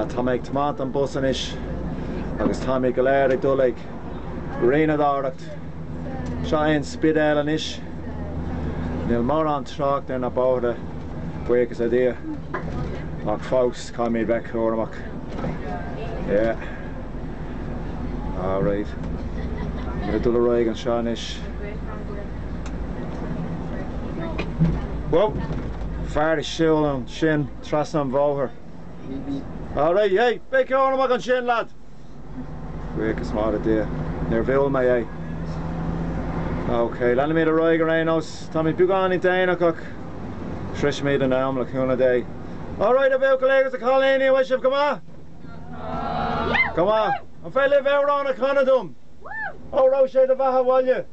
Tá mé ag tiomaint an bus anois agus táimid go léir ag dul ag rothaíocht. Seo é an Spidéal anois. Níl mórán trácht ar na bóithre, buíochas le Dia, ach fós caithfimid bheith cúramach. Yeah. Alright. Táimid ag dul ar aghaidh anseo anois. Whoa! Fear ag siúl an sin trasna an bhóthair. Alright, hey, bí cúramach ansin, lad! Buíochas mór le Dia, níor bhuail mé é. Ok, leanfaimid ar aghaidh ar aon nós. Táimid beagáinín déanach ach sroichfimid in am, le cúnamh Dé. Alright, a bhuachaillí agus a chailíní, an bhfuil sibh go maith? Go maith? An féidir libh amhrán a chanadh dom? Óró, sé do bheatha 'bhaile!